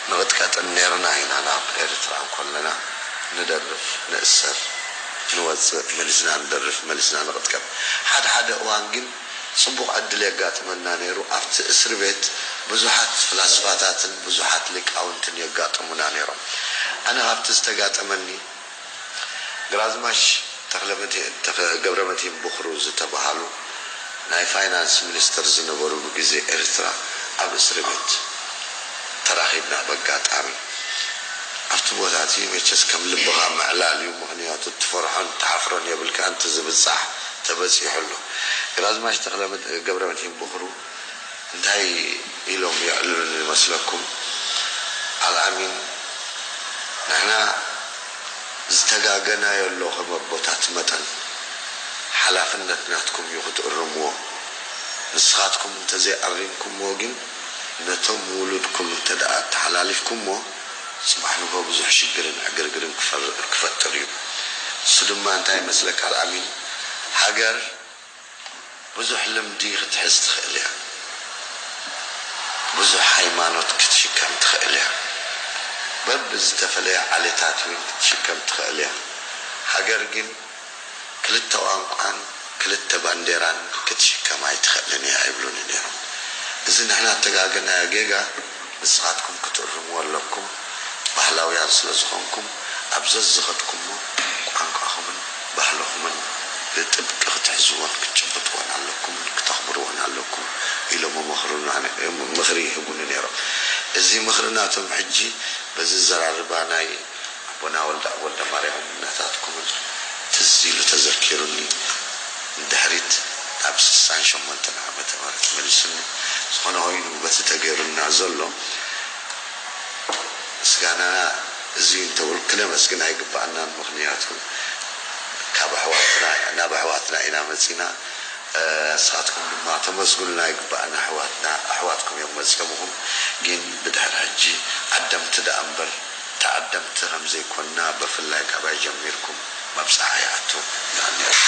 ንቕጥቀጥን ኔርና ኢና ናብ ኤርትራ እንኮለና ንደርፍ ንእሰር ንወጽእ መሊስና ንደርፍ መሊስና ንቕጥቀጥ ሓደ ሓደ እዋን ግን ጽቡቕ ዕድል የጋጥመና ኔሩ ኣብቲ እስሪ ቤት ብዙሓት ፍላስፋታትን ብዙሓት ሊቃውንትን የጋጥሙና ኔሮም ኣነ ካብቲ ዝተጋጠመኒ ግራዝማች ተኽለመድህን ገብረመድህን ቦኽሩ ዝተበሃሉ ናይ ፋይናንስ ሚኒስትር ዝነበሩሉ ግዜ ኤርትራ ኣብ እስርቤት ተራኺብና በጋጣሚ ኣብቲ ቦታ እቲ መቸስ ከም ልብኻ ምዕላል እዩ ምኽንያቱ ትፈርሖን ትሓፍሮን የብልካን እቲ ዝብጻሕ ተበጺሑ ኣሎ ግራዝማች ተኽለመድህን ገብረመድህን ቦኽሩ እንታይ ኢሎም የዕልሉኒ ይመስለኩም? ኣልኣሚን ንሕና ዝተጋገናዮ ኣሎ ከም ኣቦታት መጠን ሓላፍነት ናትኩም እዩ ክትእርምዎ ንስኻትኩም እንተዘይ ኣሪምኩምዎ ግን ነቶም ውሉድኩም እንተ ኣተሓላሊፍኩምዎ ጽባሕ ንግሆ ብዙሕ ሽግርን ዕግርግርን ክፈጥር እዩ ንሱ ድማ እንታይ ይመስለካ ኣልኣሚን ሃገር ብዙሕ ልምዲ ክትሕዝ ትኽእል እያ። ብዙሕ ሃይማኖት ክትሽከም ትኽእል እያ። በብዝተፈለየ ዓሌታት እውን ክትሽከም ትኽእል እያ። ሃገር ግን ክልተ ቋንቋን ክልተ ባንዴራን ክትሽከም ኣይትኽእልን እያ ይብሉኒ ነይሮም። እዚ ንሕና እተጋገናዮ ጌጋ። ንስኻትኩም ክትእርምዎ ኣለኩም ባህላውያን ስለ ዝኾንኩም ኣብ ዘዝኸድኩሞ ቋንቋኹምን ባህልኹምን ብጥብቂ ክትሕዝዎን ክትጭብጥዎን ኣለኩምን ክተኽብርዎን ኣለኩም ኢሎም ይመኽሩና ምኽሪ ይህቡኒ ነይሮም እዚ ምኽሪ ናቶም ሕጂ በዚ ዘራርባ ናይ ኣቦና ወልደኣብ ወልደማርያም ናታትኩምን ትዝ ኢሉ ተዘኪሩኒ ንድሕሪት ናብ ስሳን ሸሞንተን ዓመተ ምህረት መሊሱኒ ዝኾነ ኾይኑ በቲ ተገይሩልና ዘሎ ምስጋናና እዚዩ እንተበልኩ ክነመስግን ኣይግበኣናን ምኽንያቱ ካብ ኣሕዋትና ኢና ናብ ኣሕዋትና ኢና መጺና ንስኻትኩም ድማ ተመስግኑና ይግበኣና ኣሕዋትና ኣሕዋትኩም እዮም መጺኦምኹም ጊን ብድሕሪ ሕጂ ዓደምቲ ደኣ እምበር ተዓደምቲ ከምዘይኮና በፍላይ ካባይ ጀሚርኩም መብጻዓ ይኣቱ ይቀንየልና።